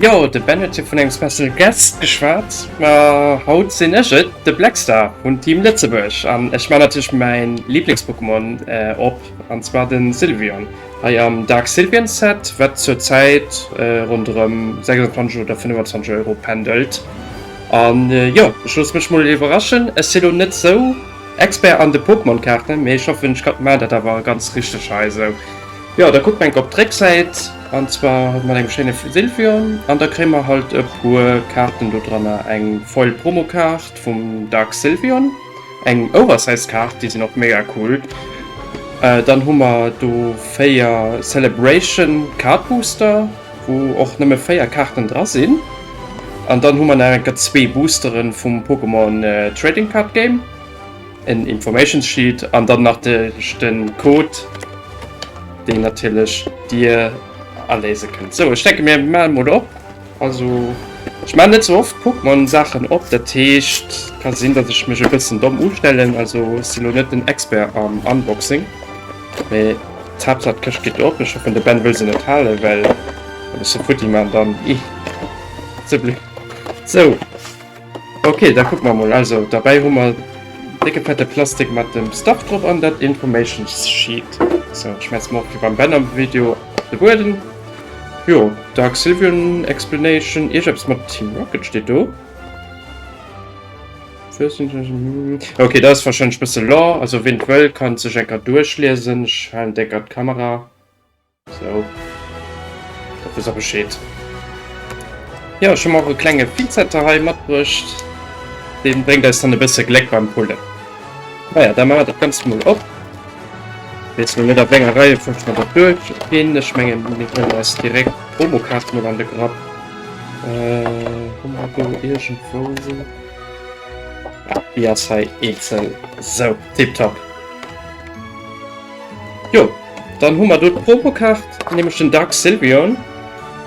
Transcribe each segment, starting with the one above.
Jo, de Bennett huet vun engem Special Guest geschwat, ma haut sinn ech et, de Blackstar vun Team Lëtzebuerg. An ech man natierlech mäin Lieblings-Pokémon äh, op, an zwar den Sylveon, hei am Dark Sylveon Set, wat zur Zäit äh, ronderëm 26 oder 25 Euro pendelt. An äh, jo, ech loosse mech mol iwwerraschen. Ech sinn elo net sou Expert an de Pokémon-Kaarten, mee ech hoffen, ech mat dat awer ganz richteg hei sou. Jo, da kucke mer enk op d'Récksäit, an zwar mat engem schéine Sylvion, an da kréie mer halt e puer Kaarten do dranner, eng Foil-Promo-Kaart vum Dark Sylvion, eng Oversize Kaart, déi sinn och mega cool, dann hu mer do 4 Celebration Card Booster, wou och nëmme 4 Kaarten dra sinn, an dann hu mer nach enker zwee Boostere vum Pokémon Trading Card Game. en Informations Sheet an dann nach de den Code den natürlich dir erlese könnt. So ich denke mir mal mod op also ich mein net so oft guck man Sachen op der Techt kann sinn dat ich mech e bëssen domm ustellen also silo net den Expert am Unboxing me tap dat köcht geht op ich hoffe de Ben will se net halen well futti man dann i ze bli so. Okay, da kuck mer mol. Also derbäi hu mer décke fette Plastik mat dem Stuff drop an dat Information Sheet. So, schmeiss mer och wéi beim Ben am Video op de Bueden. Jo, Dark Sylvian Explanation, iergeps mat Team Rocket steet do. Okay, dat ass warscheinlech bësse Lore, also ween et wëll, kann sech enker duerchliesen. Ech halen décker d'Kamera. So. Dat wëss a Bescheed. Ja, ech hu mer och e klenge Pinzetter hei matbruecht. Dee bréngt eis dann e bësse Gléck beim Pullen. Naja, da maache mer dat Ganzt mol op. Weess lo net a wénger Reiefolg mer dat duerchginn. Ech menge mir huelen eis direkt d'Promokaart mol an de Grapp. Hu mer do iergendwou. Déi ass hei eenzel. Sou, tipptopp. Jo, dann hu mer do d'Promokaart, nämlech den Dark Sylveon.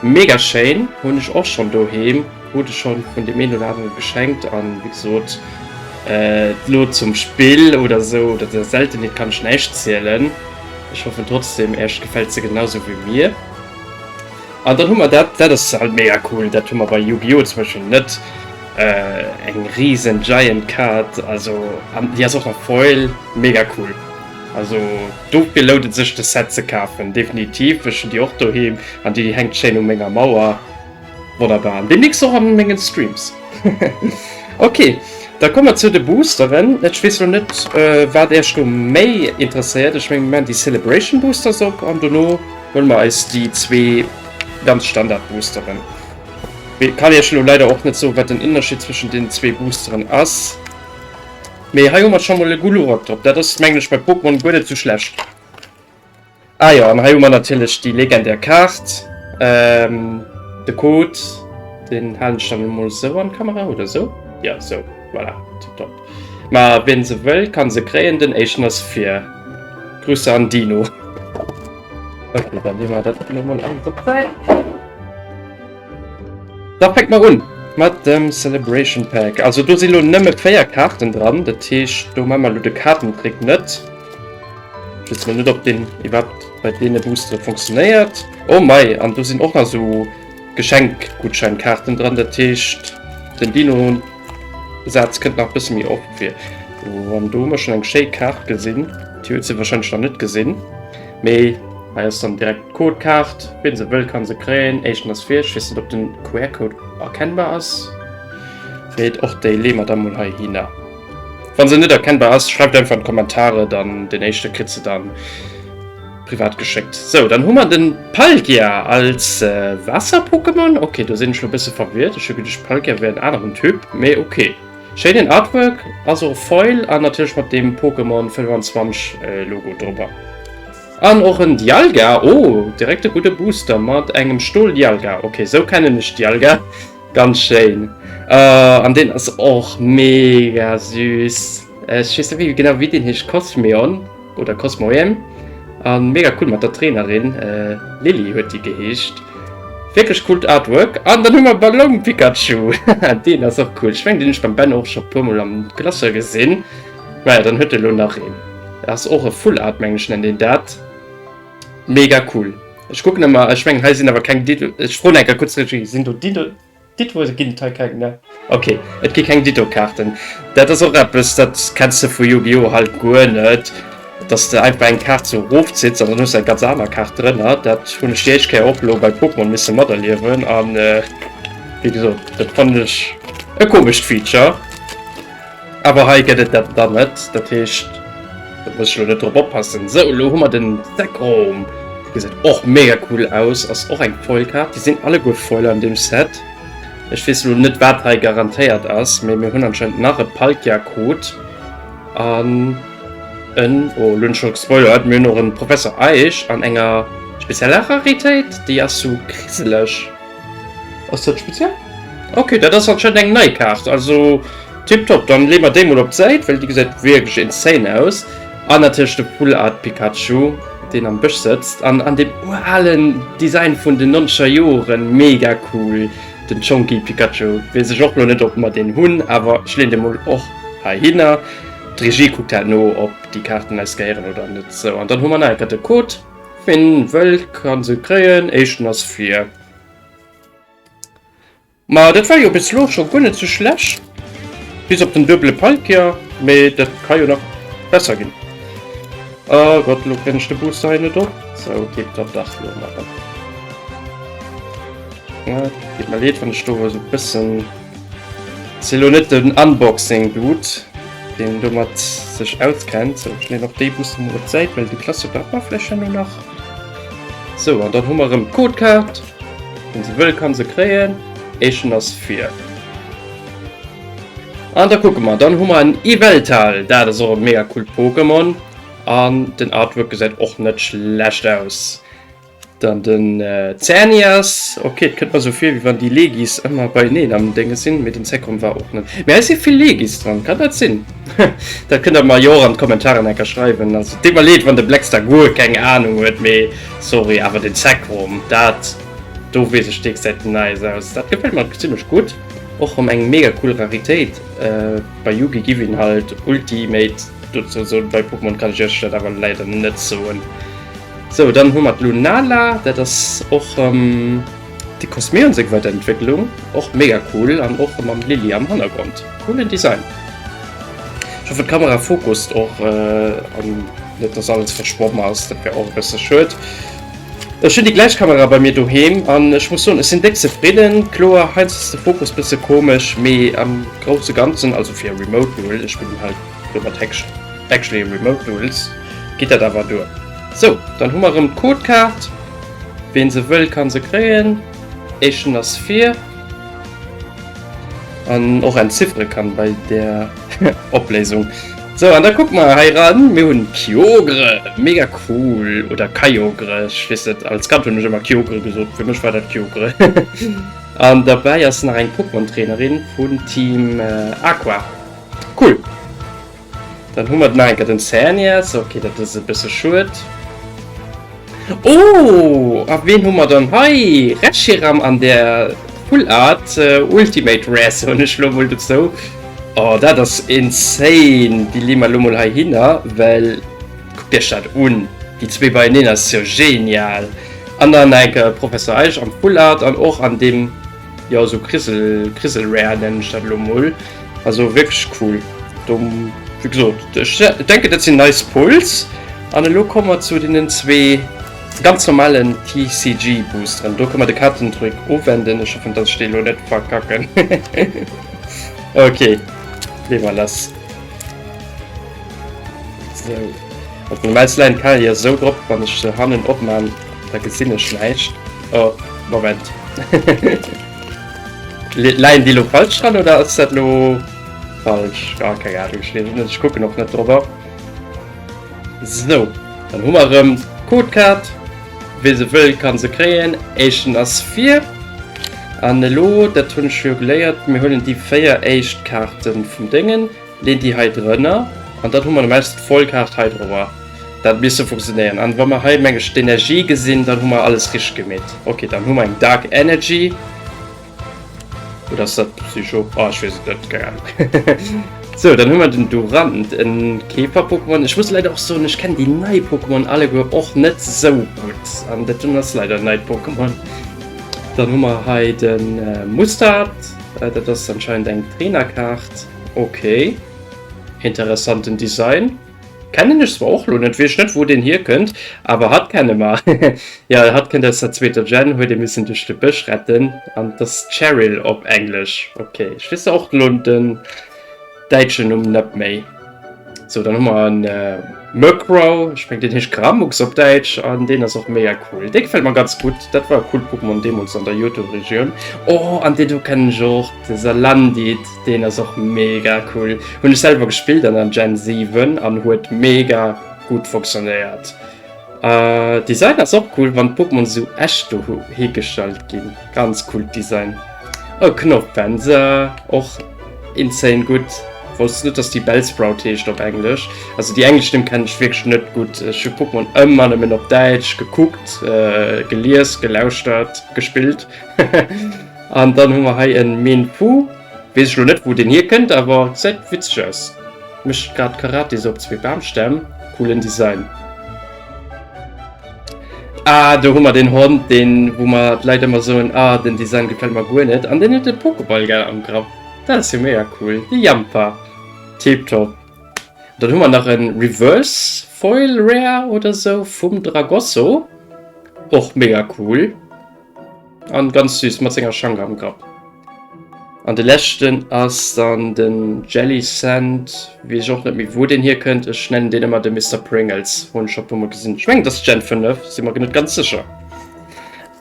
Mega schéin, hunn ech och schonn doheem, krut ech schonn vun deem een oder anere geschenkt. An wéi gesot, elo zum Spill oder esou oder der Seltenheet kann ech näischt zielen. Ech hoffen trotzdeem Äech gefält se genau esou wéi mir. An dann hu mer dat, dat ass halt mega cool, dat hu mer bei Yu-Gi-Oh! Zum Beispill net, eng risen Giant Kaart, also an déi ass och nach Foil, mega cool. Also dofir lount et sech de Set ze kafen, definitiv. Ech hunn déi och doheem an déi hänkt schéin u menger Mauer. Wonnerbar an deemnächst och an mengen Streams. Ok, da komme mer zu de Boosteren. Ech weess elo net wat Iech do méi interesséiert. Ech mengen mir maachen déi Celebration Boosters op an dono huele mer eis déi zwee ganz Standard Boosteren. Kann Iech elo leider och net soen wat den Ënnerscheed zwëschen den zwee Boosteren ass. Mee hei hu mer scho mol e Gulurok drop. Dat ass, mengen ech, bei Pokémon guer net sou schlecht. Ah jo, an hei hu mer natierlech déi legendär Kaart. De Code, deen halen ech dann emol esou an d'Kamera, oder esou? Jo, esou. Voilà, tiptop. Ma wien se wëll, ka se kréien. Den éischten ass vir. Grüße an Dino. Ok, dann leeë mer dat elo mol alles op d'Säit. Da fänke mer un mat dem Celebration Pack. Also do si lo nëmme 4 Kaarten dran, dat heescht do maa mer lo de Kaartentrick net. Ech weess lo net ob deen iwwerhaapt bei deene Boostere funktionéiert. Oh mei, an do sinn och nach esou Geschenkgutscheinkaarten dran, dat heescht den Dino-Saz kënnt nach e bësse méi oft vir. An do hu mer schonn eng schéi Kaart gesinn, déi huet se warscheinlech nach net gesinn. Mee hei ass dann direkt d'Codekaart, wien se wëll kann se kréien. Éischten ass fir, ech weess net op den QR-Code erkennbar ass. Freet och déi lee mer dann mol hei hinner. Wann se net erkennbar ass, schreift einfach an d'Kommentare, dann den éischte kritt se dann privat geschéckt. Sou, dann hu mer den Palkia als Waasser-Pokémon. Ok, do sinn ech lo bësse verwirrt, ech hu geduecht Palkia wär en aneren Typ, mee ok. Schéinen Artwork, ass och e Foil an natierlech mat dem Pokémon 25 Logo drobber an och en Dialga. Oh direkt e gudde Booster mat engem Stol Dialga. Ok sou kennen ech Dialga ganz schéin an deen ass och mega süß. Ech weess net wéi genau wéi deen heescht Cosmeon. oder Cosmoem an mega cool mat der Trainerin, Lilly huet déi geheescht. Wierklech coolt Artwork an dann hu mer Ballon Pikachu, deen ass och cool. Ech mengen deen ech beim Ben och scho puer mol am Classeur gesinn. Maja dann huet e lo nach een. Ass och e Full Art mengen ech nennt een dat. Mega cool. Ech kucken emmer, ech mengen hei sinn awer keng Dino, ech froen eng Kéier kuerz d'Regie, sinn do Dino. Ditto gin et hei keng ne. Ok et gi keng Ditto Kaarten. Dat ass och eppes dat kenns de vu Yu-Gi-Oh halt guer net, dass de einfach eng Kaart sou erof zitts an dann hues de eng ganz aner Kaart drënner. Dat hunn ech déi éischt Kéier och elo bei Pokémon misse materliewen an wéi gesot dat fannen ech e komescht Feature. Awer hei gëtt et dat dann net, dat heescht, do muss ech elo net drop oppassen. Sou, elo hu mer den Zekrom. Dee gesäit och mega cool aus, ass och eng Foilkaart. Déi sinn alleguer Foiler an deem Set. Ech weess elo net, wat hei garantéiert ass, mee mir hunn anscheinend nach e Palkia-Code an en, oh, elo hunn ech scho gespoilert, mir hunn och e Professor Eich an enger spezieller Raritéit, déi ass sou kriseleg. Ass dat speziell? Okay, dat ass anscheinend eng nei Kaart. Also tipptopp, dann leeën mer déi mol op d'Säit, well déi gesäit wierklech insane aus. An natierlech de Full Art Pikachu, deen am Bësch sëtzt an an deem uralen Design vun den nonzeger Joren. Mega cool, den Chonky Pikachu. Weess ech och lo net, ob mer deen hunn, awer ech leeën dee mol och heihinner. D'Regie kuckt dat no, ob déi Kaarten eis gehéieren oder net. Sou, an dann hu mer nach eng Kéier de Code. Ween wëll kann se kréien, éischten ass vir. Ma dat war jo bis lo scho guer net sou schlecht, bis op den duebele Palkia, mee dat ka jo nach besser ginn. Oh Gott, lo kréien ech de Booster hei net op, sou geet dat dach lo maachen. Geet mer leed wann ech do esou bëssen. Sinn lo net den Unboxing Dude deen domat sech auskennt, sou ech leen och déi Busse mol op d'Säit, well déi klasse bei mer vläch jo lo nach. Sou an dann hu mer rëm d'Codekaart, wien se wëll kann se kréien, éischten ass vir. An da kucke mer, dann hu mer en Yveltal, dat ass och e mega coolt Pokémon an den Artwork gesäit och net schlecht aus. Dann den äh, Zernias. Okay, et kënnt mer so vir, wéi wann déi Legis ëmmer beieneen am Dënge sinn, mee den Zekrom war och net. Mee hei si vill Legis dran, kann dat sinn? dat kënnt der mer jo och an d'Kommentaren enker schreiwen. Also deet mer leed, wann de Blackstar guer keng Anung huet, mee sorry, awer den Zekrom, dat do weess ech deek säit den Nice aus. Dat gefält mer zimmlech gutt. Och rëm eng mega cool Raritéit. Äh, bei Yugi giff een halt Ultimate dozou soen, bei Pokémon kann ech iech dat awer leider net soen. Sou, dann hu mer d'Lunala, dat ass och de Cosmeon seng Weiderentwécklung, och mega cool an och mam Lily am Hannergrond. Coolen Design. Ech hoffen d'Kamera focust och an net dass alles verschwomm ass, dat wär och e bësse schued. Ech hunn déi gläich Kamera bei mir doheem an ech muss soen ech sinn déck zefridden. Kloer, heiansdo ass de Focus bësse komesch, mee am grousse ganzen, also fir remote, ech spillen hei. Do mat Häckchen. Actually remote rules geet dat awer duer. Sou, dann hu mer erëm d'Codekaart. Ween se wëll kann se kréien. Echen ass vir. An och entziffere kann bei der Opléisung. Sou, an da kucke mer hei ran. Mir hunn Kyogre, mega cool, oder Kyogre, ech weess net. Als Kand hunn ech ëmmer Kyogre gesot, fir mech war dat Kyogre. An derbäi ass nach eng Pokémon Trainerin vun Team Aqua. Cool. Dann hu mer et nach eng Kéier den Xerneas. Ok, dat ass e bësse schued. Oh! A ween hu mer dann hei? Reshiram an der Full Art Ultimate Rare, soen ech elo mol dozou. Oh, dat ass insane! Déi leeë mer elo mol heihinner, well kuckt Iech dat un, déi zwee beieneen, dat ass jo genial! An dann nach eng Kéier Professor Eich am Full Art an och an deem. Jo sou Griselware nennen ech dat elo mol, also wierklech cool. Wéi gesot ech denken dat sinn nei Spulls. An elo komme mer zu deenen zwee ganz normalen TCG Boosteren. Do kënne mer de Kartendrück ofwenden, ech hoffen dass ech dee elo net verkacken. Ok lee mer lass. Sou op normal leien d'Karier sou drop, wann ech se hannen opman Da gesinn ech näischt. Oh, Moment. Leien déi lo falsch dran oder ass dat lo falsch? Ah, keng Ahnung, ech leesen net, ech kucken och net drop op. So, dann hu mer erëm d'Codekaart. Wee se wëll, ka se kréien. Éischten ass vir. An elo, dat hunn ech jo geléiert, mir huelen déi 4 éischt Kaarte vum Déngen. Leet déi hei drënner an dann hu mer normalerweis d'Vollkaacht hei droer. Dat misst sou funktionéieren. An wa mer hei meng ech d'Energie gesinn, dann hu mer alles richteg gemeet. Ok, dann hu mer eng Dark Energy. Oder ass dat Psycho? Oh, ech weess et net, keng Ahnung. Sou, dann hu mer den Durant, en Käfer-Pokémon. Ech muss leider och soen, ech kennen déi nei Pokémon alleguer och net sou gutt. An dat do ass leider en neit Pokémon. Dann hu mer hei de Mustard, dat ass anscheinend eng Trainer-Kaart. Ok, interessanten Design. Kennen ech zwar och lo net, wees net wou deen hier kënnt, awer hatt kenne mer. Ja, hatt kënnt aus der zweeter Gen, huet ee missen duerch de Bësch retten an et ass Cheryl op englesch. Ok, ech weess och lo den däitschen Numm net méi. So, dann haben wir einen äh, Murkrow, ich meine, den heißt Gramux auf Deutsch, und den ist auch mega cool. Der gefällt mir ganz gut, das war ein cooles Pokémon damals in der Johto-Region. Oh, und den hier kenne ich auch, der Salandit, den ist auch mega cool. Habe ich selber gespielt an der Gen 7 und hat mega gut funktioniert. Äh, Design ass och cool, wann d'Pokémon esou echt do higestalt ginn. Ganz coolt Design. Oh, Knopfwänze, och insane gutt. Wousst net, dass déi Bellsprout heescht op Englesch. Also déi englesch Nimm kennen ech wierklech net gutt. Ech hu Pokémon ëmmer nëmmen op Däitsch gekuckt, gelies, gelauschtert, gespillt. An dann hu mer hei e Minpu. Wees ech lo net wou deen hier kënnt awer gesäit witzeg aus. Mecht grad Karate sou op zwee Baamstämm. Coolen Design. Ah do hu mer den Hond deen wou mer d'Leit emmer soen ah den Design gefällt mer guer net an den huet e Pokeball gell am Grapp. Dat ass jo mega cool. De Jampa. Tip top. Dann hu mer nach en Reverse Foil Rare oder sou vum Dragosso. Och mega cool. An ganz süß mat senger Schang am Grapp. An de leschten ass dann den Jelly Sand, wees ech och net méi wou den hier kënnt, ech nennen den ëmmer de Mister Pringles, hunn ech scho puer mol gesinn, ech mengen et ass Gen 5, sinn mer net ganz sécher.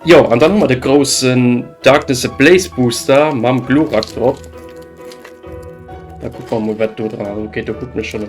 Jo an dann hu mer de groussen Darkness Ablaze Booster mam Glurak drop, da kucke mer mol wat do dran ass, ok do kucken ech schonn.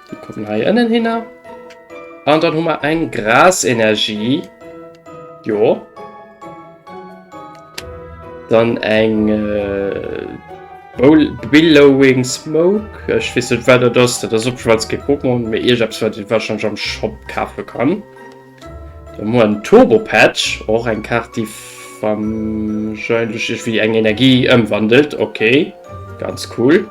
Die kommen hei innen hin. Und ah, dann haben wir eine Grasenergie. Jo. Dann ein äh, Billowing Smoke. Ich weiß nicht, was das ist. Das ist auf jeden Fall ein Pokémon. Mir irgendwas, was ich wahrscheinlich am Shop kaufen kann. Dann hu mer en Turbo Patch, och eng Kaart déi wahrscheinlech iergwéi eng Energie ëmwandelt, ok ganz cool.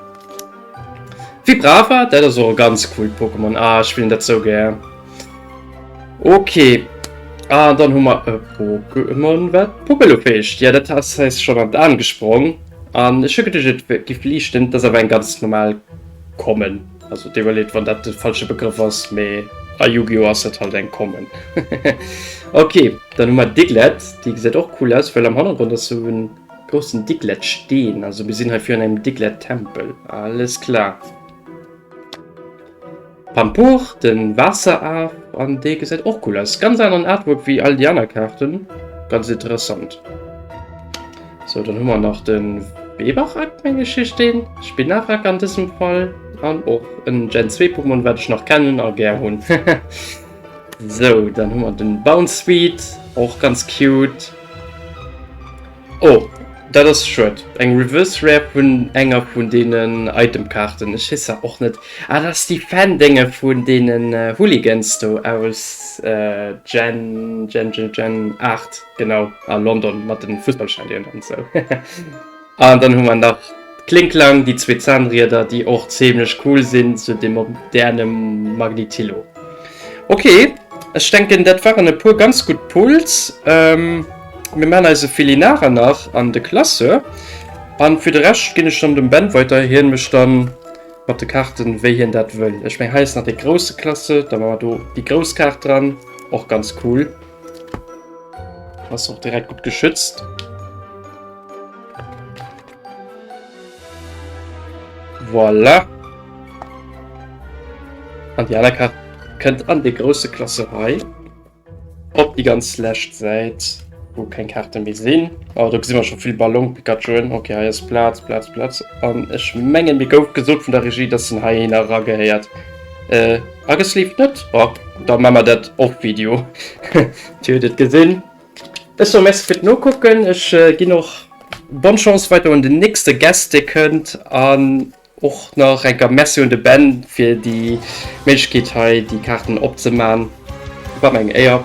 Vibrava, dat ass och e ganz coolt Pokémon, ah ech spillen dat sou gär. Ok an dann hu mer e Pokémon wat Pupelo feegt, jo dat ass eis schonn an d'An gesprong an ech hu geduecht et giff liichten, dat ass awer eng ganz normal Common. Also Devalet, wann dat de falsche Begrëff ass, mee a Yu-Gi-Oh! ass dat halt eng Common. Okay, dann hu mer Diglett, déi gesäit och cool aus, well am Hannergrond ass sou en groussen Diglett-Steen, also mir sinn hei virun engem Diglett-Tempel, alles klar. Pampour, den Waasseraf, an dee gesäit och cool aus, ganz aneren Artwork wéi all déi aner Kaarten, ganz interessant. So dann hu mer nach den Webarak meng ech heescht deen, Spinarak an dësem Fall, an och en Gen 2 Pokémon wat ech nach kennen a gär hunn hehe. So dann hu mer den Bounsweet, och ganz cute. Oh dat ass schued, eng Reverse Rare vun enger vun deenen Item Kaarten, ech heesser och net, ah dat ass déi Fan Dénge vun deenen Hooligans do aus Gen Gen Gen 8. Genau, a London mat den Fussballstadioen an sou. An dann hu mer nach d'Klingklang, déi zwee Zahnrieder, déi och zimlech cool sin, sou de moderne Magnetillo. Ok, ech denken dat waren e puer ganz gutt Pulls. Mir man eise Filinar nach an de Classeur, an fir de Rescht gin ech dann dem Ben weider, hien mech dann mat de Kaarten wéi hien dat wëll. Ech meng hei ass nach dee grousse Classeur, da man mer do déi grouss Kaart dran, och ganz cool. Ass och direkt gut geschützt. Voilà. An die aner Karte kënnt an de grosse Klasserei op die ganz läscht Säit, wo keng Karte méi sinn. Oh, do gesinn wir schon vill Ballon Pikachu'en. Okay, hei ass Platz, Platz, Platz. An ech mengen, mir gouf gesot vun der Regie, dass den hei een eragehäiert. Äh, A gesleevt net? Bon, da maa mer dat off video. Dir hutt et gesinn. Ech soe Merci fir d'Nokucken. Ech ginn och bonne Chance weider un den nächste Guest, dee kënnt. An och nach eng Kéier Merci un de Ben fir déi Méiglechkeet hei déi Kaarten opzemaan. War meng Éier.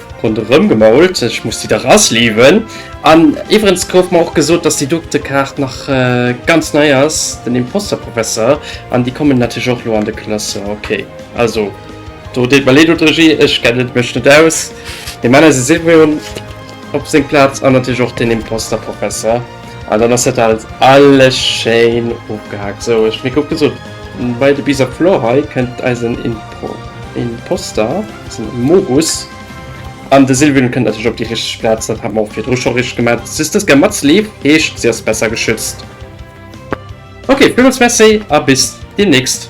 Ronderëm gemault, ech muss déi dach asleewen. An iwwerens gouf mer och gesot, dass déi Doktekart nach ganz nei ass, den Imposter-Professor, an déi kommen natierlech och elo an de Classeur. Okay, also do deet mer leed un d'Regie, ech kennen mech net aus. Mir man eise Sirveon op seng Plaz an natierlech och den Imposter-Professor. An dann ass dat alt alles schéin ofgehaakt. Sou, ech hunn ee Kuck gesot bei de Bizarre Floor. Hei kënnt eisen Impro-, Imposter. So, Mogus. An de Sylvian kënnt natierlech op déi richteg Plaz, dat hat mer och virdru scho richteg gemat. D'Systesca mat Sleeve heescht, si ass besser geschützt. Ok, villmools Merci a bis deemnächst!